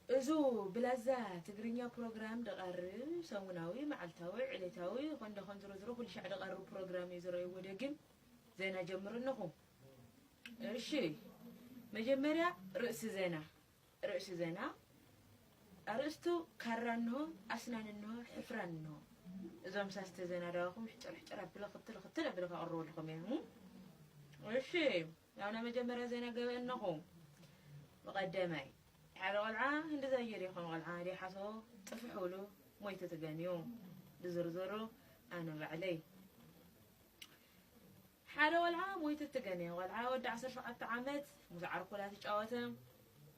እዙ ብላዛ ትግርኛ ፕሮግራም ድቐር ሰሙናዊ መዓልታዊ ዕሌታዊ ይኾን ደኾን ዝሮ ዝሮ ኩልሻዕ ድቐርብ ፕሮግራም እዩ ዝረእይዎ ደግም ዜና ጀምሩ ኣለኹ እሺ መጀመርያ ርእሲ ዜና ርእሲ ዜና ኣርእስቱ ካራ እንሆ ኣስናን እንሆ ሕፍራን እንሆ እዞም ሳስተ ዜና ዳዋኹም ሕጭር ሕጭር ኣብለ ክትል ክትል ኣብለ ከቕርበልኹም እየ እሺ ናብ ናይ መጀመርያ ዜና ገበ እነኹ ብቀደማይ ሓደ ቆልዓ ህንዲ ዛይር እዩ ከም ቆልዓ ድያ ሓሶ ጥፍሑሉ ሞይቱ ትገንዩ ብዝርዝሩ ኣነ ባዕለይ ሓደ ቆልዓ ሞይቱ ትገንየ ቆልዓ ወዲ ዓሰርተ ሸውዓተ ዓመት ምስ ዓርኩ ላትጫወተ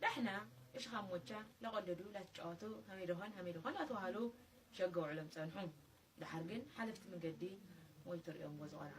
ዳሕና እሽኻ ሞቻ ለቆልዱ ላትጫወቱ ሃመይ ደኾን ሃመይ ደኾን ላተዋሃሉ ሸገ ውዕሎም ፀንሑ ዳሓር ግን ሓለፍቲ መንገዲ ሞይቱ ሪኦምዎ ዝቆልዓ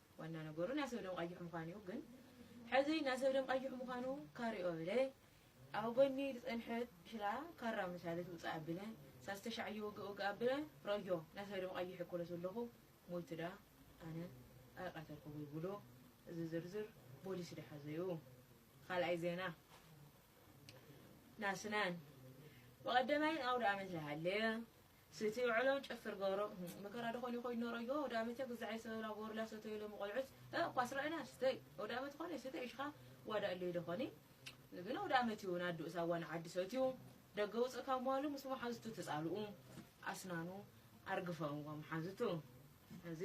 ዋና ነገሩ ናይ ሰብ ደም ቐይሕ ምዃኑ እዩ ግን ሕዚ ናይ ሰብ ደም ቐይሕ ምዃኑ ካሪኦ እለ ኣብ ጎኒ ዝጸንሐት ሽላ ካራ ምሳለ ትውጽእ ኣብለ ሳስተ ሻዕ እየወግእ ወግእ ኣብለ ረእዮ ናይ ሰብ ደም ቐይሕ እኮ ለተለኹ ሞይቱ ደኣ ኣነ ኣይቐተልኩ ወይ ብሎ እዚ ዝርዝር ቦሊስ ደሓዘ እዩ ኻልኣይ ዜና ናስናን ብቐደማይን ኣውደ ኣመት ለሃለ ስቲ ውዕሎ ጨፍር ገብሮ መከራ ዶ ኮን ይኮይድ ኖሮ ኢጎ ወዳመተ ግዛዕ ይሰበላ ጎርላ ሰተዩ ሎሚ ቆልዑት እ ኳስ ረእና ስተይ ወዳመት ኮነ ሰተ ይሽካ ዋዳ እለይ ዶ ኮኒ ግን ወዳመት ይውን ኣዱ ሳዋ ንዓዲ ሰትዩ ደገ ውጽእ ካብ መዋሉ ምስ መሓዙቱ ተጻልኡ ኣስናኑ ኣርግፈእዎ መሓዙቱ እዚ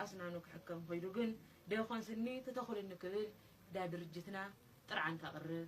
ኣስናኑ ክሕከም ኮይዱ ግን ደኮን ስኒ ትተኹልኒ ክብል ዳ ድርጅትና ጥርዓን ከቅርብ